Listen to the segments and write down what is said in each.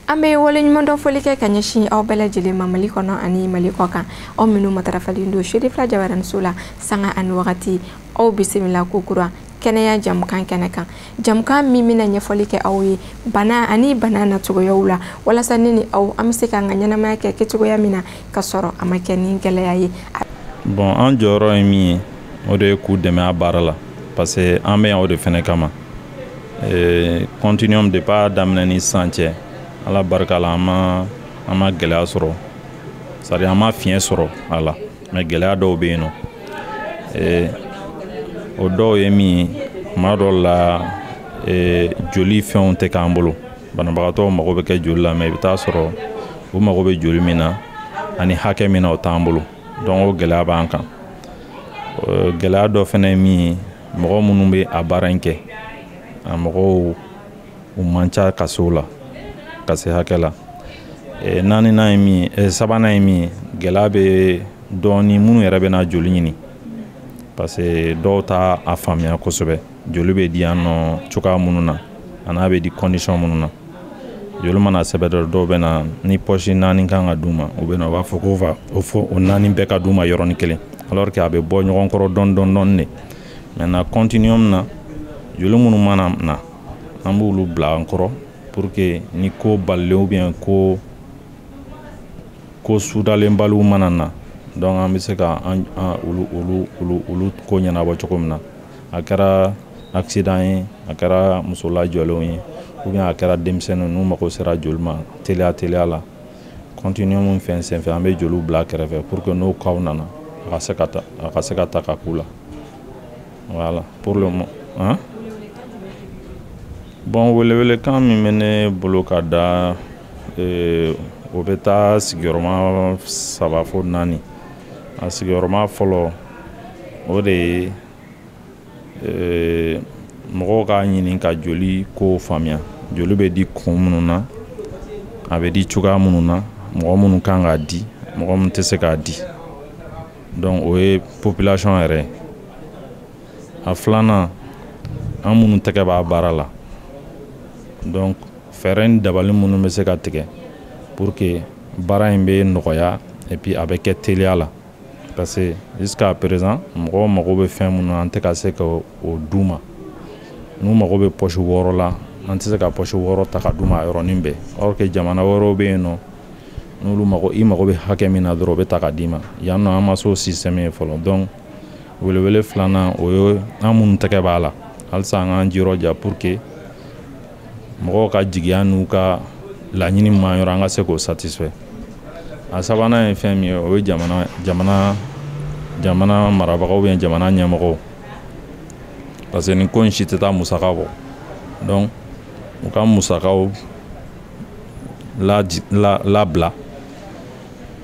an bɛ waleɲumandɔn foli kɛ ka ɲɛsin aw bɛɛ lajɛlen ma mali kɔnɔ ani mali kɔ kan aw minnu matarafalen don sherifila jabaraniso la sanga ani wagati aw bisimila ko kura kɛnɛya jamukan kɛnɛ kan jamukan min bɛna ɲɛfɔli kɛ aw ye bana ani bana nacogoyaw la walasa ne ni aw an bɛ se k'an ka ɲɛnamaya kɛ kɛcogoya min na ka sɔrɔ a ma kɛ ni gɛlɛya ye bon an jɔyɔrɔ ye min ye o de ye k'u dɛmɛ a baara la parce que an bɛ yan o de fɛnɛ kama eh, continuum depuis a daminɛ ni sisan cɛ ala barika la an ma an ma gɛlɛya sɔrɔ c'est-à-dire an ma fiɲɛ sɔrɔ a la mais gɛlɛya dɔw bɛ yen nɔ eh, o dɔw ye min ye kuma dɔw la eh, joli fɛnw tɛ k'an bolo banabagatɔw mago bɛ kɛ joli la mais i bɛ taa sɔrɔ u mago bɛ joli min na ani hakɛ min na o t'an bolo donc o gɛlɛya b'an kan eh, gɛlɛya dɔ fana ye min ye mɔgɔ minnu bɛ a baara in kɛ a mɔgɔw u man ca ka se o la ka se hakɛ la e, naaninan ye min ye e, sabanan ye min ye gɛlɛya bɛ dɔɔni minnu yɛrɛ bɛ na joli ɲini parce que dɔw t'a faamuya kosɛbɛ joli bɛ di yan nɔ cogoya minnu na a n'a bɛ di condition minnu na joli mana sɛbɛn dɔ dɔw bɛ na ni pɔsi naani kan ka d'u ma u bɛ na u b'a fɔ ko va o fo o naani bɛɛ ka d'u ma yɔrɔnin kelen alors que a bɛ bɔ ɲɔgɔn kɔrɔ dɔɔni dɔɔni dɔɔni de maintenant continuum na joli minnu mana na an b'olu bila an kɔrɔ pour que ni ko balalen ou bien ko ko sudalenbaliw mana na donc an bɛ se ka an olu olu olu olu ko ɲɛnabɔ cogo min na a kɛra accident ye a kɛra muso lajɔlenw ye ou bien a kɛra denmisɛnninw n'u mago sera joli ma teliya teliya la continuum fɛn senfɛ an bɛ joliw bila kɛrɛfɛ pour que n'o kaw nana a ka se ka ta a ka se ka ta ka k'u la Voilà, pour le moment. Hein? Bon, welewelekan min bɛ ne bolo ka da eh, o bɛ taa sigiyɔrɔma saba fo naani a sigiyɔrɔma fɔlɔ o de ye eh, mɔgɔw k'a ɲini ka joli kow faamuya joli bɛ di kun minnu na a bɛ di cogoya minnu na mɔgɔ minnu kan k'a di mɔgɔ minnu tɛ se k'a di donc o ye population yɛrɛ ye a filanan an minnu tɛgɛ b'a baara la donc fɛɛrɛ ni dabali minnu bɛ se ka tigɛ pour que baara in bɛ nɔgɔya et puis a bɛ kɛ teliya la parce que jusqu'à présent mɔgɔw mago bɛ fɛn minnu an tɛ ka se ka o d'u ma n'u mago bɛ pɔsi wɔɔrɔ la an tɛ se ka pɔsi wɔɔrɔ ta ka d'u ma a yɔrɔnin bɛɛ or que jamana wɛrɛw bɛ yen nɔ n'olu mago i mago bɛ hakɛ min na dɔrɔn o bɛ ta ka d'i ma yan nɔ an ma s'o système ye fɔlɔ donc welewele filanan o ye an minnu tɛgɛ b'a la halisa an k'an jirɔja pour que mɔgɔw ka jigiya n'u ka laɲini ma yɔrɔ an ka se k'o satisfait a sabanan ye fɛn min ye o ye jamana jamana jamana marabagaw ou bien jamana ɲɛmɔgɔw parce que nin ko in si tɛ taa musaka kɔ donc u ka musakaw labila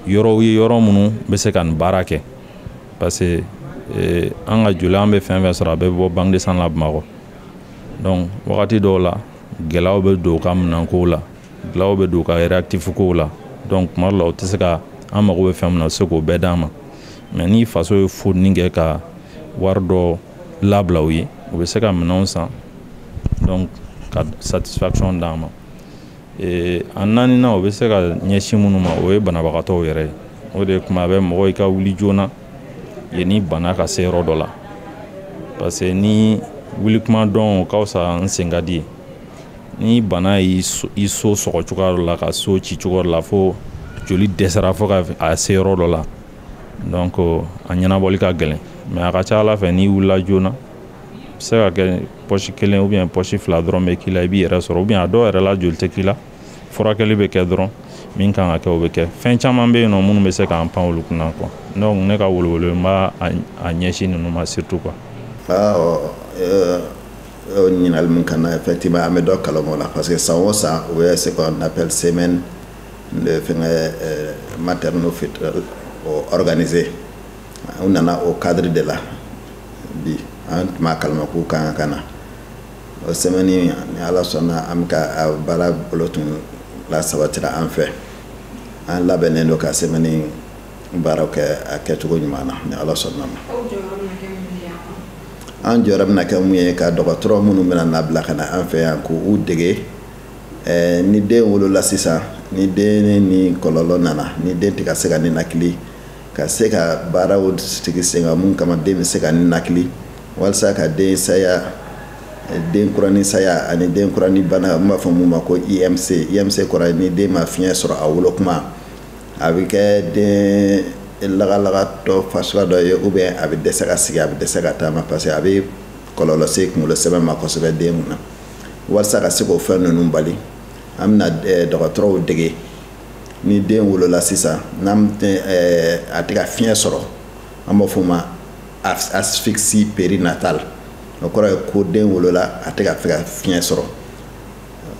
yɔrɔw ye yɔrɔ minnu bɛ se ka nin baara kɛ parce que eh, an ka joli an bɛ fɛn fɛn sɔrɔ a bɛ bɔ banque de sang la bamakɔ donc wagati dɔw la gɛlɛyaw bɛ don u ka minɛnkow la gɛlɛyaw bɛ don u ka réactif kow la donc tuma dɔ la u tɛ se ka an mago bɛ fɛn min na u tɛ se k'o bɛɛ d'an ma mais ni faso ye effort kɛ ka wari dɔ labila u ye u bɛ se ka minɛnw san donc ka satisfaction d'an ma eh, a naaninan u bɛ se ka ɲɛsin minnu ma o ye banabagatɔw yɛrɛ ye o de kuma bɛ mɔgɔ i ka wuli joona yanni bana ka se yɔrɔ dɔ la parce que ni wuli kuma dɔn o ka fisa n sen ka di ye ni bana y'i so i so sɔgɔ cogoya dɔ la ka so ci cogo dɔ la fo joli dɛsɛra fo ka a se yɔrɔ dɔ la donc a ɲɛnabɔli ka gɛlɛn mais a ka ca a la fɛ n'i wulila joona a bɛ se ka kɛ pɔsi kelen ou bien pɔsi fila dɔrɔn bɛ k'i la i b'i yɛrɛ sɔrɔ ou bien a dɔw yɛrɛ la joli tɛ k'i la furakɛli bɛ kɛ dɔrɔn min kan ka kɛ o bɛ kɛ fɛn caman bɛ yen nɔ minnu bɛ se k'an pan olu kunna quoi donc ne ka welewele n b'a ɲɛsin ninnu ma surtout quoi ɲininkali min kan na effectivement an bɛ dɔ kalama o la parce que san o san u bɛ ce qu'on appelle semaine de fɛngɛ eh, maternelle fœtale o organisé u nana o cadre de la bi an tun b'a kalama k'u kan ka na o sɛmɛni ni ala sɔnna an bɛ ka a baara bolo tun la sabatira an fɛ an labɛnnen don ka sɛmɛni baaraw kɛ a kɛcogo ɲuman na ni ala sɔnna a ma an jɔyɔrɔ bɛna kɛ mun ye ka dɔgɔtɔrɔ minnu bɛna labila ka na an fɛ yan k'u dege Eh, ni den wolola sisan ni den ni kɔlɔlɔ nana ni den tɛ ka se ka ninakili ka se ka baaraw sigi sen kan min kama den bɛ se ka ninakili walasa ka den saya eh, den kurani saya ani den kurani bana n b'a fɔ min ma ko IMC IMC kɔrɔ ni den ma fiɲɛ sɔrɔ a wolo kuma a bɛ kɛ den lagalagatɔ fa suguya dɔ ye ou bien a bɛ dɛsɛ ka sigi a bɛ dɛsɛ ka taama parce que a bɛ kɔlɔlɔ se kunkolo sɛmɛ ma kosɛbɛ den min na walisa ka se k'o fɛn ninnu bali an bɛna eh, dɔgɔtɔrɔw dege ni den wolola sisan n'an eh, a tɛ ka fiɲɛ sɔrɔ an b'a fɔ ma asphyxie périnatale o kɔrɔ ye ko den wolola a tɛ ka fɛ ka fiɲɛ sɔrɔ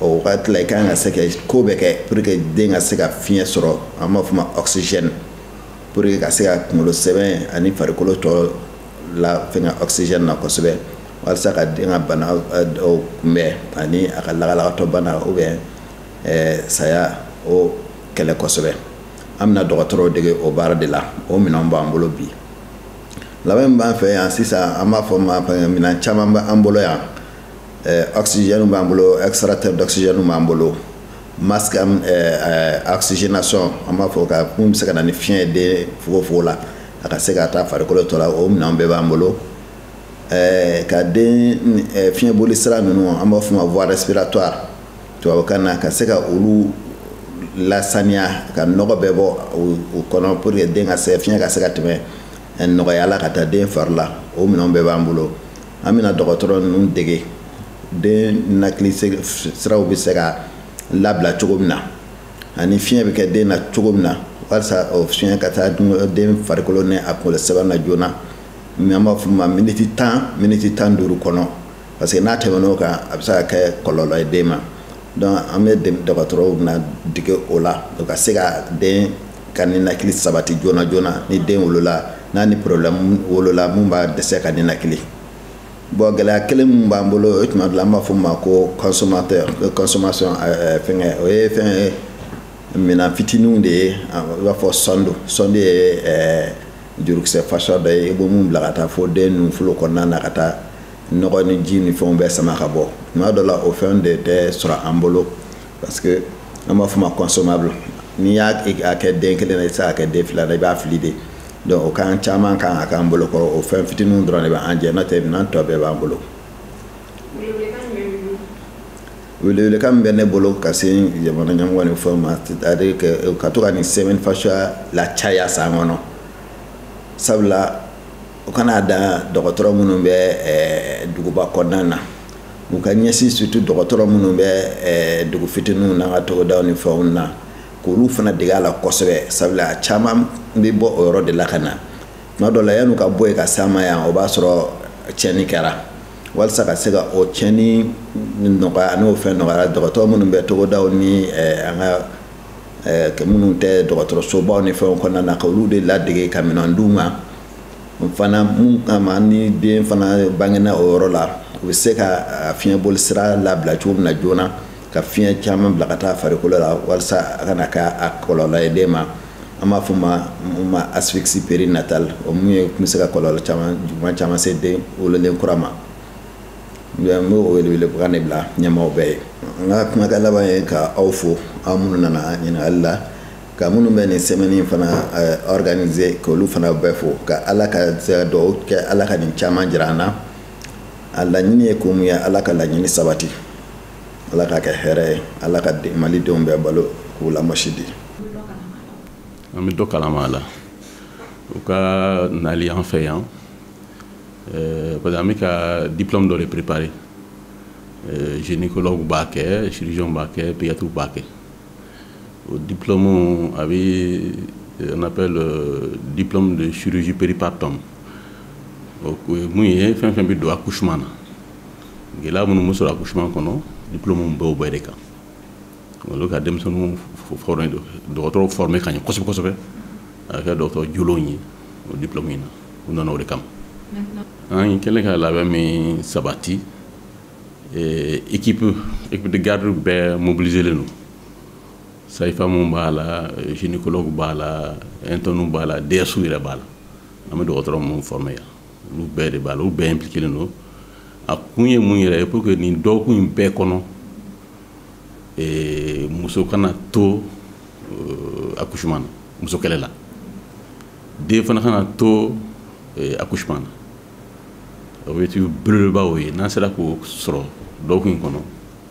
o wagati la i kan ka se ka ko bɛɛ kɛ pour que den ka se ka fiɲɛ sɔrɔ an b'a fɔ ma oxygène pour que ka se ka kunkolo sɛmɛ ani farikolo tɔ la fɛnkɛ oxygène na kosɛbɛ walisa ka den ka bana dɔw kunbɛn ani a ka lagalagatɔ bana ou bien saya o kɛlɛ kosɛbɛ an bɛna dɔgɔtɔrɔw dege o baara de la o minɛnw b'an bolo bi labɛn min b'an fɛ yan sisan an b'a fɔ ma minɛn caman bɛ an bolo yan oxygène b'an bolo extracteur d'oxygène b'an bolo masque oxygénation an b'a fɔ ka mun bɛ se ka na ni fiɲɛ ye den fogofogo la a ka se ka taa farikolo tɔ la o minɛnw bɛɛ b'an bolo ka den fiɲɛboli sira ninnu an b'a fɔ ma voie respiratoire tubabukan na ka se ka olu lasaniya ka nɔgɔ bɛɛ bɔ u kɔnɔ pour que den ka se fiɲɛ ka se ka tɛmɛ nɔgɔya la ka taa den fari la o minɛnw bɛɛ b'an bolo an bɛna dɔgɔtɔrɔ ninnu dege den ninakili siraw bɛ se ka labila cogo min na ani fiɲɛ bɛ kɛ den na cogo min na walasa o fiɲɛ ka taa den farikolo ni a kunkolo sɛmɛ na joona mɛ an b'a fɔ ma miniti tan miniti tan duuru kɔnɔ parce que n'a tɛmɛn'o kan a bɛ se ka kɛ kɔlɔlɔ ye den ma donc an bɛ dɔgɔtɔrɔw bɛna dege o la u ka se ka den ka ninakili sabati joona joona ni den wolola n'a ni problème wolola mun b'a dɛsɛ ka ninakili bon gɛlɛya kelen min b'an bolo o tuma dɔ la an b'a fɔ ma ko consommateur consommation fɛnkɛ o ye fɛn ye minan fitininw de ye i b'a fɔ sonde sonde ye jurukisɛ fasa dɔ ye i bɛ mun bila ka taa fo den ninnu folo kɔnɔna na ka taa nɔgɔ ni ji ni fɛnw bɛɛ sama ka bɔ tuma dɔ la o fɛn de tɛ sɔrɔ an bolo parce que an b'a fɔ ma consommable n'i y'a kɛ den kelen na i tɛ se k'a kɛ den fila na i b'a fili de donc o kan caman kan ka k'an bolo kɔrɔ o fɛn fitininw dɔrɔn de bɛ an jɛ n'o tɛ minɛn tɔ bɛɛ b'an bolo. Welewelekan min bɛ ne bolo ka se jamana ɲɛmɔgɔ ni fɛnw ma c'est à dire que ka to ka nin semaine fasuguya lacaya san kɔnɔ sabula u kana dan dɔgɔtɔrɔ minnu bɛ eh, duguba kɔnɔna na u ka ɲɛsin surtout dɔgɔtɔrɔ minnu bɛ eh, dugu fitininw n'an ka togodaw ni fɛnw na k'olu fana dege a la kosɛbɛ sabula a caman bɛ bɔ o yɔrɔ de la ka na tuma dɔ la yan'u ka bɔ yen ka s'an ma yan o b'a sɔrɔ tiɲɛni kɛra walisa ka se ka o tiɲɛni nɔgɔya n'o fɛn nɔgɔyara dɔgɔtɔrɔ minnu bɛ togodaw ni eh, an ka eh, minnu tɛ dɔgɔtɔrɔsobaw ni fɛnw kɔnɔna na ka olu de ladege ka minɛn d'u ma fana mun kama ni den fana bangena o yɔrɔ la u bɛ se ka fiɲɛ boli sira labila cogo min na joona ka fiɲɛ caman bila ka taa farikolo la walisa a kana kɛ a kɔlɔlɔ ye den ma an b'a fɔ ma min ma asphyxie périnatale o mun ye kun bɛ se ka kɔlɔlɔ caman juguman caman se den wololen kura ma n b'o welewelekan de bila ɲɛmaaw bɛɛ ye n ka kumakan laban ye ka aw fo aw minnu nana ɲininkali la ka minnu bɛ nin semaine fana eh, organiser k'olu fana bɛɛ fo ka ala ka dugawu kɛ ala ka nin caman jira an na a laɲini ye ko mun ye ala ka laɲini sabati ala k'a kɛ hɛrɛ ye ala ka mali denw bɛɛ balo k'u lamasidi an bɛ dɔ kalama a la u ka nali an fɛ yan eh, parce que an bɛ ka diplôme dɔ de préparer eh, gynécologue b'a kɛ chirurgien b'a kɛ pédiatre b'a kɛ o diplôme a bɛ eh, on appelle euh, diplôme de chirurgie péripartum o ye mun ye fɛn fɛn bɛ don accouchement na gɛlɛya minnu bɛ sɔrɔ accouchement kɔnɔ diplôme b'o bɛɛ de kan olu ka denmisɛnninw fɔrɔ dɔgɔtɔrɔw former ka ɲɛ kosɛbɛ kosɛbɛ a kɛ dɔgɔtɔrɔ jolon ye o diplôme in na u nana o de kama an kɛlen ka labɛn min sabati équipe équipe de garde bɛɛ mobiliselen don sage-femme b'a la gynécologue b'a la internes b'a la DESw yɛrɛ b'a la an bɛ dɔgɔtɔrɔ minnu former yan olu bɛɛ de b'a la olu bɛɛ impliquélen don a kun ye mun yɛrɛ ye pour que nin dɔgɔkun in bɛɛ kɔnɔ ee, muso kana to euh, accouchement na muso kɛlɛ la den fana kana to euh, accouchement na objectif belebeleba o ye n'an sera k'o sɔrɔ dɔgɔkun in kɔnɔ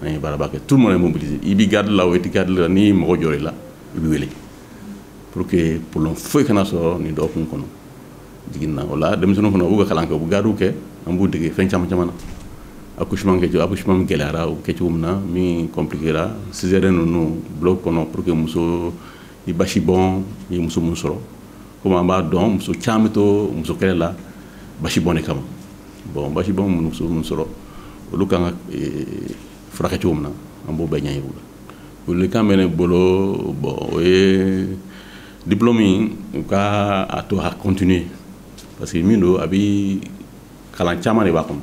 an ye baaraba kɛ tout le monde est mobilisé i bɛ garde la o i tɛ garde la ni mago jɔra i la i bɛ wele pour que problème foyi kana sɔrɔ nin dɔgɔkun kɔnɔ jiginna o la denmisɛnninw fana u ka kalan kɛ u bɛ gardew kɛ an b'u dege fɛn caman caman na accouchement kɛcogo accouchement min gɛlɛyara u kɛcogo min na min compliquéra césarienne ninnu bloc kɔnɔ pour que muso ni basi bɔn ye muso min sɔrɔ komi an b'a dɔn muso caman bɛ to muso kɛlɛ la basi bɔn de kama bɔn basi bɔn mana muso minnu sɔrɔ olu kan ka furakɛ cogo min na an b'o bɛɛ ɲɛjira u la welekan bɛ ne bolo bɔn o ye diplôme in u ka a to a continuer parce que min don a bi kalan caman de b'a kɔnɔ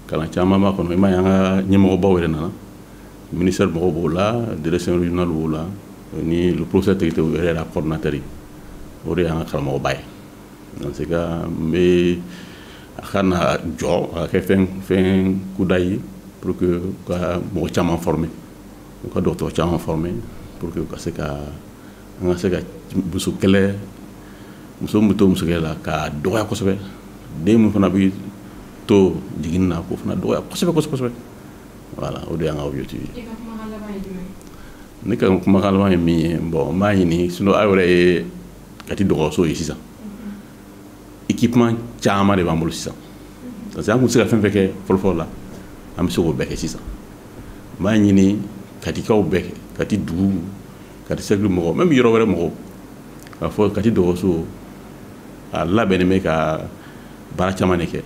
kalan caman b'a kɔnɔ i m'a ye an ka ɲɛmɔgɔbaw yɛrɛ nana ministère mɔgɔw b'o la direction régionale b'o la ni le professeur tegete o yɛrɛ yɛrɛ coordinateur ye o de y'an ka karamɔgɔba ye dans ce cas n bɛ a kana jɔ a ka kɛ fɛn fɛn kuda ye pour que ka mɔgɔ caman former u ka dɔgɔtɔrɔ caman former pour que u ka se ka an ka se ka musokɛlɛ muso min bɛ to musokɛlɛ la k'a dɔgɔya kosɛbɛ den min fana bɛ to jiginni na k'o fana dɔgɔya kosɛbɛ kosɛbɛ kosɛbɛ voilà o de y'an ka objectif ye. ne ka kumakan laban ye min ye bon n b'a ɲini sinon aw yɛrɛ ye kati dɔgɔtɔrɔso ye sisan. équipement caman de b'an bolo sisan parce que an tun tɛ se ka fɛn fɛn kɛ fɔlɔfɔlɔ la an bɛ se k'o bɛɛ kɛ sisan n b'a ɲini katikaw bɛɛ fɛ kati dugu kati sɛrɛkili mɔgɔ min bɛ yɔrɔ wɛrɛ mɔgɔ k'a fɔ kati dɔgɔtɔrɔso a labɛnnen bɛ ka baara caman de kɛ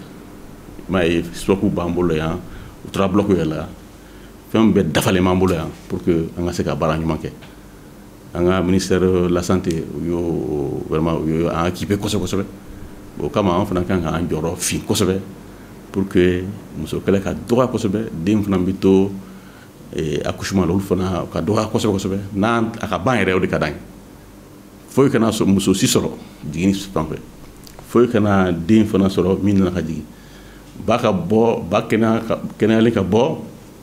m'a ye sɔku b'an bolo yan u tora bulɔku yɛrɛ la fɛn bɛɛ dafalen b'an bolo yan pour que an ka se ka baara ɲuman kɛ an ka ministère de la santé u ye vraiment u y'an équiper kosɛbɛ kosɛbɛ o kama an fana ka kan k'an jɔyɔrɔ fin kosɛbɛ pour que musokɛlɛ ka dɔgɔya kosɛbɛ den fana bɛ to eh, accouchement la olu fana ka dɔgɔya kosɛbɛ kosɛbɛ n'an a ka ban yɛrɛ o de ka d'an ye foyi kana sɔrɔ muso si sɔrɔ jiginni fan fɛ foyi kana den fana sɔrɔ min nana ka jigin ba ka bɔ ba kɛnɛya ka kɛnɛyalen ka bɔ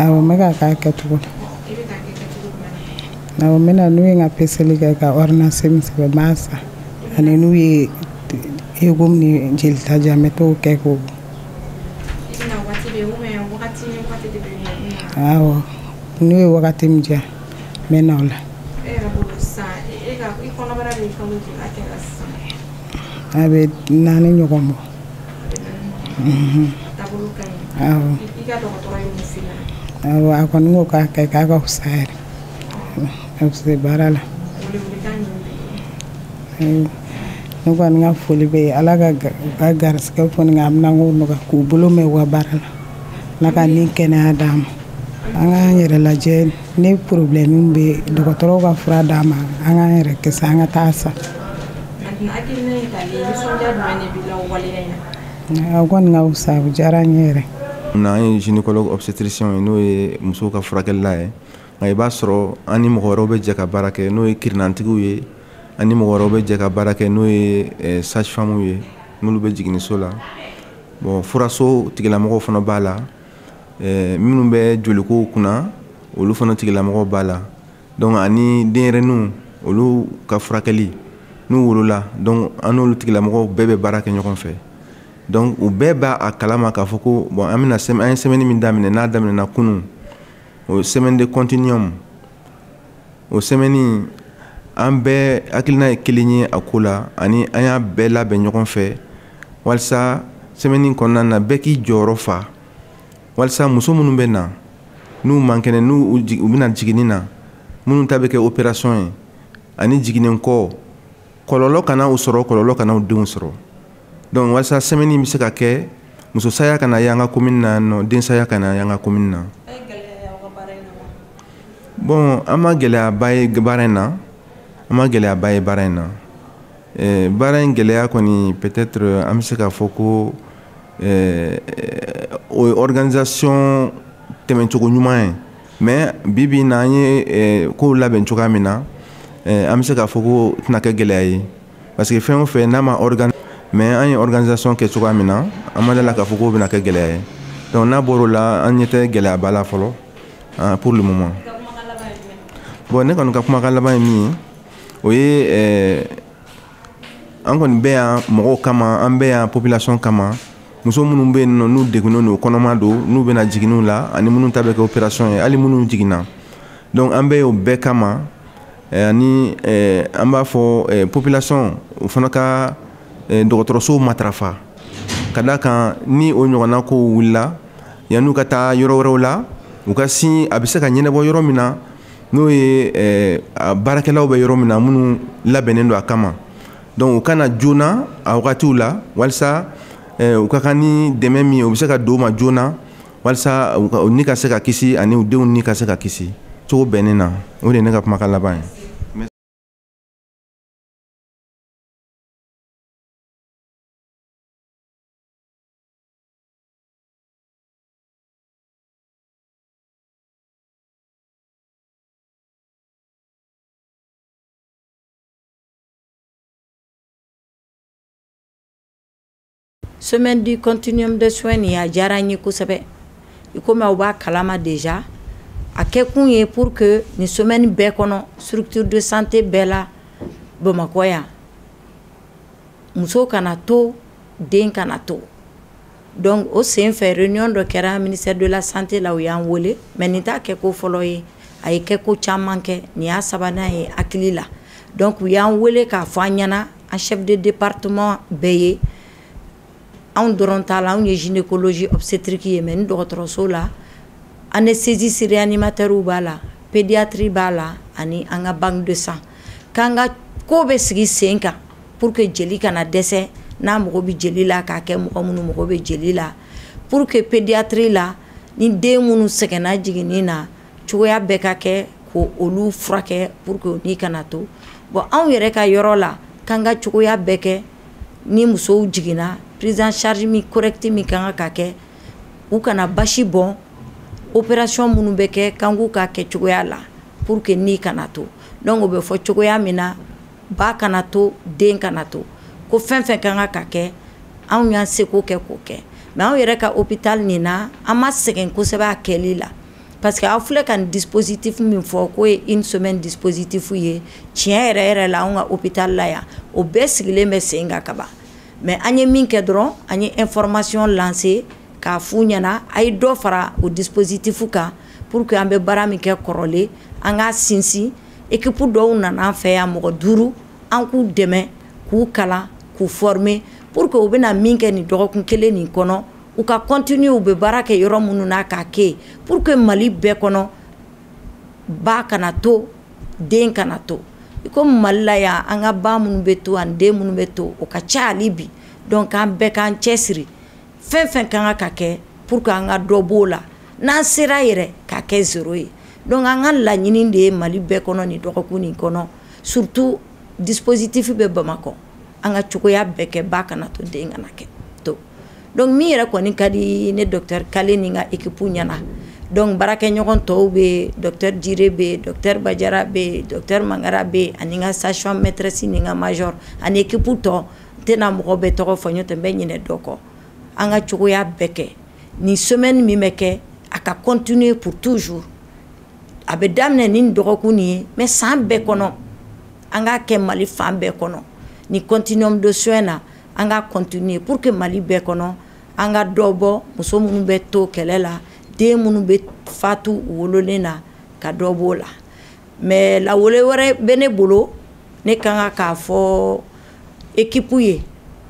Awɔ n bɛ k'a kɛ a kɛcogo la. Awɔ n bɛ na n'u ye n ka peseli kɛ ka ordonnance min sɛbɛn n b'a san ani n'u ye écho ni jelita di yan n bɛ t'o kɛ k'o awɔ n'u ye wagati min di yan n bɛ na o la. a bɛ naani ɲɔgɔn bɔ a kɔni ko k'a kɛ k'a ka fisa yɛrɛ a bɛ se baara la ne kɔni ka foli bɛ ala ka ka garisɛgɛ kɔni ka minɛnko nɔgɔya k'u bolo mɛɛn u ka baara la ala ka ni kɛnɛya d'an ma an k'an yɛrɛ lajɛ ni problème bɛ dɔgɔtɔrɔw ka fura d'an ma an k'an yɛrɛ kisi an ka taa so o kɔni ka fisa o diyara n ye yɛrɛ an ye gynécologue obstétricien ye n'o ye musow ka furakɛlila ye nka i b'a sɔrɔ an ni mɔgɔ wɛrɛw bɛ jɛ ka baara kɛ n'o ye kirinnantigiw ye an ni mɔgɔ wɛrɛw bɛ jɛ ka baara kɛ n'o ye eh, sage-femmew ye n'olu bɛ jiginniso la bon furaso tigilamɔgɔw fana b'a la minnu bɛ joliko kunna olu fana tigilamɔgɔw b'a la donc ani denyɛrɛniw olu ka furakɛli n'u wolola donc an n'olu tigilamɔgɔw bɛɛ bɛ baara kɛ ɲɔgɔn fɛ donc u bɛɛ b'a kalama k'a fɔ ko bon an bɛna an ye sɛmɛni min daminɛ n'a daminɛna kunun o semaine de continuum o sɛmɛni an bɛɛ hakilina ye kelen ye a ko la ani an y'a bɛɛ labɛn ɲɔgɔn fɛ walisa sɛmɛni kɔnɔna na bɛɛ k'i jɔyɔrɔ fa walisa muso minnu bɛ na n'u man kɛnɛ n'u bɛ na jiginni na minnu ta bɛ kɛ operation ye ani jiginni kɔ kɔlɔlɔ kana u sɔrɔ kɔlɔlɔ kana u denw sɔrɔ donc walisa sɛmɛni bɛ se ka kɛ muso saya kana y'an ka komini na nɔ den saya kana y'an ka komini na bon an ma gɛlɛyaba ye baara in na an ma gɛlɛyaba ye baara in na eh, baara in gɛlɛya kɔni peut-être an bɛ se k'a fɔ ko eh, o ye organisation tɛmɛcogo ɲuman ye mais bi bi in na an ye eh, kow labɛn cogoya min na eh, an bɛ se k'a fɔ k'o tɛna kɛ gɛlɛya ye parce que fɛn o fɛn n'a ma organ mais an ye organisation kɛ cogoya min na an ma d'a la k'a fɔ k'o bɛna kɛ gɛlɛya ye donc n'a bɔr'o la an ɲɛ tɛ gɛlɛyaba la fɔlɔ ah, pour le moment bon ne kɔni ka kumakan laban ye min ye o ye eh, an kɔni bɛ yan mɔgɔw kama an bɛ yan population kama muso minnu bɛ yen nɔ n'u degunnen don kɔnɔma don n'u bɛ na jiginniw la ani minnu ta bɛ kɛ operation ye hali minnu jiginna donc an bɛ yen o bɛɛ kama eh, ani eh, an b'a fɔ eh, population u fana ka dɔgɔtɔrɔsow matarafa ka d'a kan ni o ɲɔgɔnna kow wulila yann'u ka taa yɔrɔ wɛrɛw la u ka sin a bɛ se ka ɲɛnabɔ yɔrɔ min na n'o ye eh, baarakɛlaw bɛ yɔrɔ min na minnu labɛnnen don a kama donc u ka na joona a wagatiw la walisa eh, u ka kan ni dɛmɛ min ye o bɛ se ka d'u ma joona walisa u ni ka se ka kisi ani u denw ni ka se ka kisi cogo bɛnnen na o de ye ne ka kumakan laban ye semaine du continuum de soins nin a diyara n ye kosɛbɛ i komi aw b'a kalama déjà a kɛkun ye pour que nin semaine bɛɛ kɔnɔ structure de santé bɛɛ la bamakɔ yan muso kana to den kana to donc o sen fɛ réunion dɔ kɛra ministère de la santé la u y'an weele mais nin t'a kɛko fɔlɔ ye a ye kɛko caman kɛ nin y'a sabanan ye hakili la donc u y'an weele k'a fɔ an ɲɛna an chef de département bɛɛ ye anw dɔrɔn t'a la anw ye gynécologie obstétrique ye mais an dɔgɔtɔrɔso la anesthésistes réanimateurs b'a la pédiatrie b'a la ani an ka banque de sang k'an ka ko bɛɛ sigi sen kan pour que jeli kana dɛsɛ n'a mago bɛ jeli la k'a kɛ mɔgɔ minnu mago bɛ jeli la pour que pédiatrie la ni den minnu sɛgɛnna jiginni na cogoya bɛɛ ka kɛ k'olu furakɛ pour que ni kana to bon anw yɛrɛ ka yɔrɔ la k'an ka cogoya bɛɛ kɛ ni musow jiginna prise en charge min correcte min ka kan ka kɛ u kana basi bɔn opération minnu bɛ kɛ k'an k'u k'a kɛcogoya la pour que ni kana to donc o bɛ fɔ cogoya min na ba kana to den kana to ko fɛn fɛn ka kan ka kɛ anw y'an seko kɛ k'o kɛ mais anw yɛrɛ ka hôpital nin na an ma sɛgɛn kosɛbɛ a kɛli la parce que aw filɛ ka nin dispositif min fɔ k'o ye une semaine dispositif ye tiɲɛ yɛrɛ yɛrɛ la anw ka hôpital la yan o bɛɛ sigilen bɛ sen kan ka ban mais an ye min kɛ dɔrɔn an ye information lancer k'a f'u ɲɛna a ye dɔ fara o dispositif kan pour que an bɛ baara min kɛ kɔrɔlen an k'a sinsin équipe dɔw nana an fɛ yan mɔgɔ duuru an k'u dɛmɛ k'u kalan k'u former pour que u bɛna min kɛ nin dɔgɔkun kelen nin kɔnɔ u ka continuer u bɛ baara kɛ yɔrɔ minnu na k'a kɛ pour que mali bɛɛ kɔnɔ ba kana to den kana to i ko mali la yan an ka ba minnu bɛ to an den minnu bɛ to o ka ca hali bi donc k'an bɛɛ k'an cɛ siri fɛn fɛn ka kan ka kɛ pour que an ka dɔ b'o la n'an sera yɛrɛ k'a kɛ zéro ye donc an ka laɲini de ye mali bɛɛ kɔnɔ nin dɔgɔkun nin kɔnɔ surtout dispositif bɛ bamakɔ an ka cogoya bɛɛ kɛ ba kana to den kana kɛ to donc min yɛrɛ kɔni ka di ne docteur kale ni n ka équipe ɲɛna donc baarakɛɲɔgɔn tɔw bɛ docteur jire bɛ docteur bajara bɛ docteur mangara bɛ ani n ka sage femme maîtresse ni n ka major ani équipe tɔ n tɛna mɔgɔ bɛɛ tɔgɔ fɔ n'o tɛ n bɛ ɲinɛ dɔ kɔ an ka cogoya bɛɛ kɛ nin semaine min bɛ kɛ a ka continuer pour toujours a bɛ daminɛ ni dɔgɔkun nin ye mais san bɛɛ kɔnɔ an k'a kɛ mali fan bɛɛ kɔnɔ ni continuum de soin na an ka continuer pour que mali bɛɛ kɔnɔ an ka dɔ bɔ muso minnu bɛ to kɛlɛ la den minnu bɛ fatu wololen na ka dɔ b'o la mais lawele wɛrɛ bɛ ne bolo ne ka kan k'a fɔ ekip ye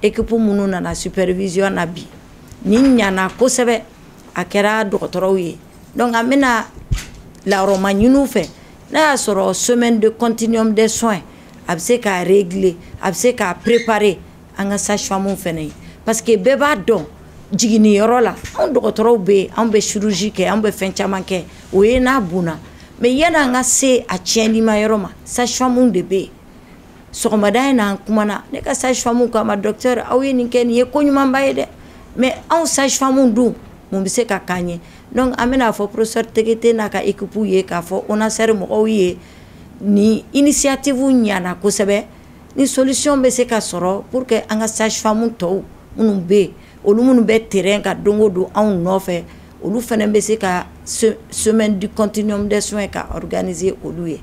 ekip minnu nana supervision na bi ni ɲana kosɛbɛ a kɛra dɔgɔtɔrɔw ye donc n bɛna lama ɲinin u fɛ n'i y'a sɔrɔ semaine du continuum des soins a bɛ se ka gele a bɛ se k ka préparer an ka sage femmew fana ye parce que bɛɛ b'a dɔn jiginniyɔrɔ yɔrɔ la anw dɔgɔtɔrɔw bɛ yen anw bɛ chirurgie kɛ anw bɛ fɛn caman kɛ o ye n'a bon mais yanni an ka se a tiɲɛnlima yɔrɔ ma sage femmew de bɛ yen sɔgɔmada in n'an kumana ne ka sage femme k'an ma docteur aw ye nin kɛ nin ye ko ɲumanba ye dɛ mais anw sage femme dun mun bɛ se ka k'an ye donc an bɛna fɔ professeur Tegete n'a ka équipe ye k'a fɔ ONASR mɔgɔw ye nin initiative ɲana kosɛbɛ ni solution bɛ se ka sɔrɔ pour que an ka sage femme tɔw minnu bɛ yen olu minnu bɛ terrain kan don o don anw nɔfɛ olu fana bɛ se ka semaine du continuum des soins ka organiser olu ye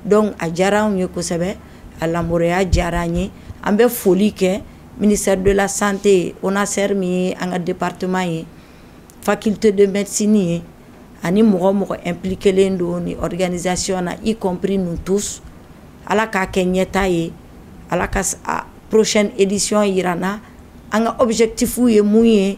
Donc a diyara anw ye kosɛbɛ a labɛncogoya diyara an ye an bɛ foli kɛ ministère de la santé ye ONASR min ye an ka département ye faculté de médecine ye ani mɔgɔ o mɔgɔ impliquer len don nin organisation na y compris nous tous Ala k'a kɛ ɲɛtaa ye Ala ka prochaine édition jira an na an ka objectifs ye mun ye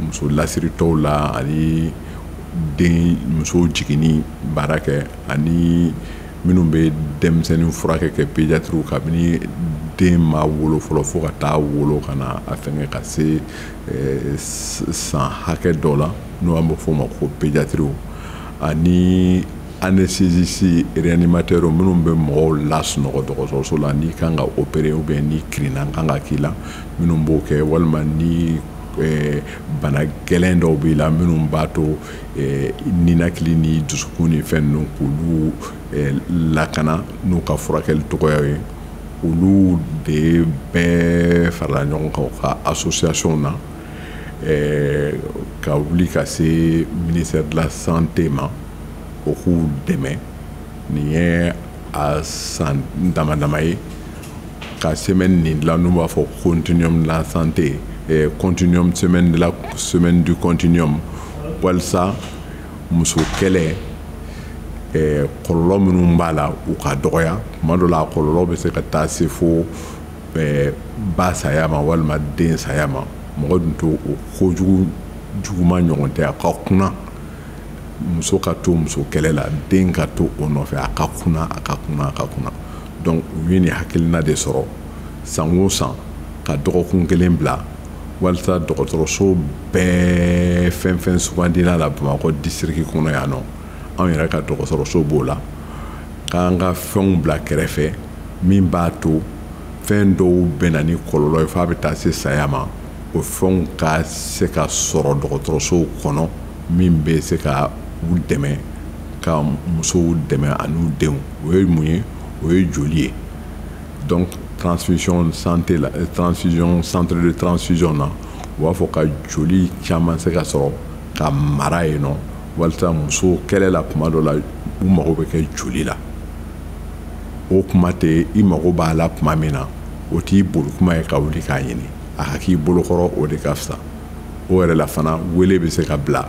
muso lasiritɔw la ani den muso jiginni baara kɛ ani minnu bɛ denmisɛnnin furakɛ kɛ pédiatrew kabini den ma wolo fɔlɔ fo ka taa wolo ka na a fɛn ka se san hakɛ dɔ la n'an bɛ f'o ma ko pédiatrew ani anesthésiste réanimateurw minnu bɛ mɔgɔw lasunɔgɔ dɔgɔtɔrɔso la n'i kan ka opéré ɛ ni kirinnan kan ka k'i la minnu b'o kɛ walima ni bana gɛlɛn dɔw b'i la minnu b'a to ninakili ni dusukun ni fɛn ninnu k'olu lakana n'u ka furakɛli cogoya ye olu de bɛɛ farala ɲɔgɔn kan u ka association na ka wuli ka se ministère de la santé ma o k'u dɛmɛ nin ye a san dama dama ye ka semaine nin dilan n'u b'a fɔ continuum de la santé eh, continuum semaine de la semaine du continuum walisa muso kɛlɛ eh, kɔlɔlɔ minnu b'a la u ka dɔgɔya tuma dɔ la a kɔlɔlɔ bɛ se ka taa se fo eh, ba saya ma walima den saya ma mɔgɔ dun to o kojugu juguma ɲɔgɔn tɛ a ka kunna muso ka to muso kɛlɛ la den ka to o nɔfɛ a ka kunna a ka kunna a ka kunna donc u ye nin hakilina de sɔrɔ san o san ka dɔgɔkun kelen bila walisa dɔgɔtɔrɔsow bɛɛ fɛn fɛn sugandila la bamakɔ disiriki kɔnɔ yan nɔ anw yɛrɛ ka dɔgɔtɔrɔso b'o la k'an ka fɛnw bila kɛrɛfɛ min b'a to fɛn dɔw bɛ na ni kɔlɔlɔ ye f'a bɛ taa se saya ma o fɛnw ka se ka sɔrɔ dɔgɔtɔrɔsow kɔnɔ min bɛ se ka u dɛmɛ ka musow dɛmɛ an'u denw o ye mun ye o ye joli ye donc transfusion santé la euh, transfusion centre de transfusion na u b'a fɔ ka joli caman se ka sɔrɔ ka mara yen nɔ walisa muso kɛlɛ la kuma dɔ la u mago bɛ kɛ joli la o kuma tɛ i mago b'a la kuma min na o t'i boli kuma ye ka wuli k'a ɲini a ka k'i bolo kɔrɔ o de ka fisa o yɛrɛ la fana wele bɛ se ka bila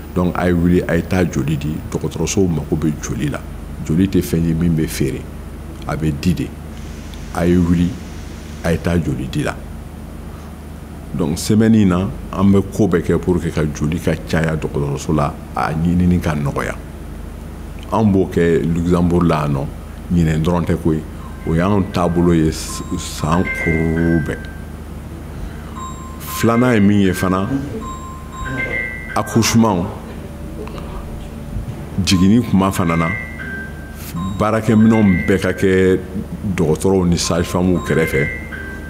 dɔnku a ye wuli a ye taa joli di dɔgɔtɔrɔsow mago bɛ joli la joli tɛ fɛn ye min bɛ feere a bɛ di de a ye wuli a ye taa joli di la dɔnku sɛmɛni na an bɛ ko bɛɛ kɛ pour que ka joli ka caya dɔgɔtɔrɔso la a ɲinini ka nɔgɔya an b'o kɛ luxembourg la yan nɔ ɲinɛn dɔrɔn tɛ ko ye o y'an taabolo ye san kuru bɛɛ filanan ye min ye fana accouchement jiginni kuma fana na baarakɛminɛnw bɛɛ ka kɛ dɔgɔtɔrɔw ni sage-femmew kɛrɛfɛ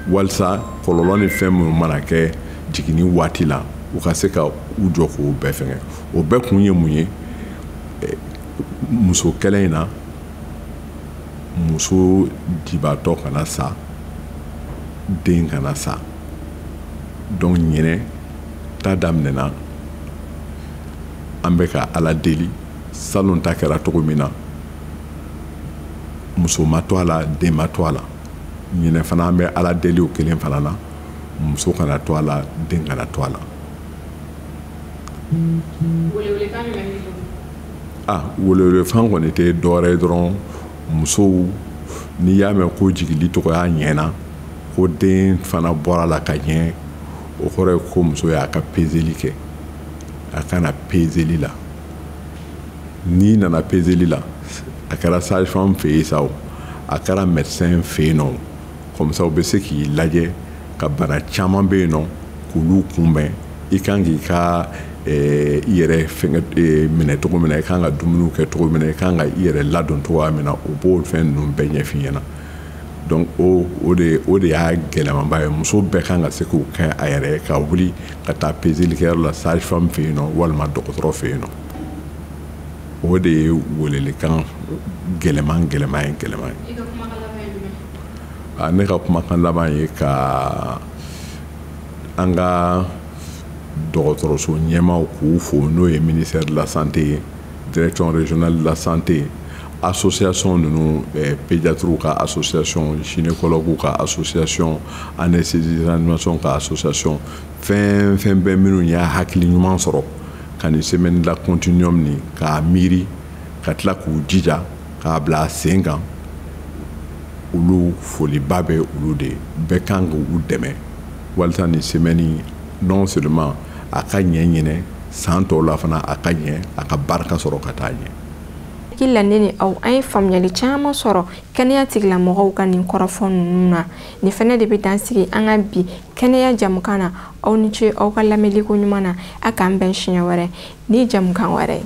walisa kɔlɔlɔ ni fɛn minnu mana kɛ jiginni waati la u ka se ka u jɔ k'o bɛɛ fɛngɛ o bɛɛ kun ye mun ye eh, muso kɛlɛ in na muso jibatɔ kana sa den kana sa donc ɲinɛ ta daminɛna an bɛ ka ala deli salon ta kɛra cogo min na muso ma to a la den ma to a la ɲinɛ fana an bɛ ala deli o kelen fana na muso kana to a la den kana to a la ah welewelefan kɔni tɛ dɔwɛrɛ ye dɔrɔn musow n'i y'a mɛn ko jigili cogoya ɲɛna ko den fana bɔra la ka ɲɛ o kɔrɔ ye ko muso y'a ka pezeli kɛ a ka na pezeli la n'i nana pezeli la a kɛra sage-femme fɛ yen sa o a kɛra médecin fɛ yen nɔ comme ça u bɛ se k'i lajɛ ka bana caman bɛ yen nɔ k'olu kunbɛn i kan k'i ka eh, i yɛrɛ fɛngɛ eh, minɛ cogo min na i kan ka dumuniw kɛ cogo min na i kan ka i yɛrɛ ladon cogoya min na o b'o fɛn ninnu bɛɛ ɲɛf'i ɲɛna donc o o de o de y'a gɛlɛmanba ye muso bɛɛ kan ka se k'o kɛ a yɛrɛ ka wuli ka taa pezelikɛyɔrɔ la sage-femme fɛ yen nɔ walima dɔgɔtɔrɔ fɛ yen nɔ o de ye welelikan gɛlɛman gɛlɛman ye gɛlɛman ye ne ka kumakan laban ye ka an ka dɔgɔtɔrɔso ɲɛmaaw k'u fo n'o ye ministère de la santé ye direction régionale de la santé ye association ninnu eh, pédiatrew ka association gynécologuew ka association anesthésie réanimation ka association fɛn fɛn bɛ minnu y'a hakili ɲuman sɔrɔ ka nin semaine la continuum nin k'a miiri ka tila k'u jija k'a bila sen kan olu foliba bɛ olu de bɛɛ kan k'u dɛmɛ walisa nin semaine non seulement a ka ɲɛ ɲinɛ san tɔw la fana a ka ɲɛ a ka barika sɔrɔ ka taa ɲɛ hakili la ne ni aw an ye faamuyali caman sɔrɔ kɛnɛya tigilamɔgɔw ka nin kɔrɔfɔ ninnu na nin fɛnɛ de bɛ dan sigi an ka bi kɛnɛya jamukan na aw ni ce aw ka lamɛnli koɲuman na a k'an bɛn siɲɛ wɛrɛ ni jamukan wɛrɛ ye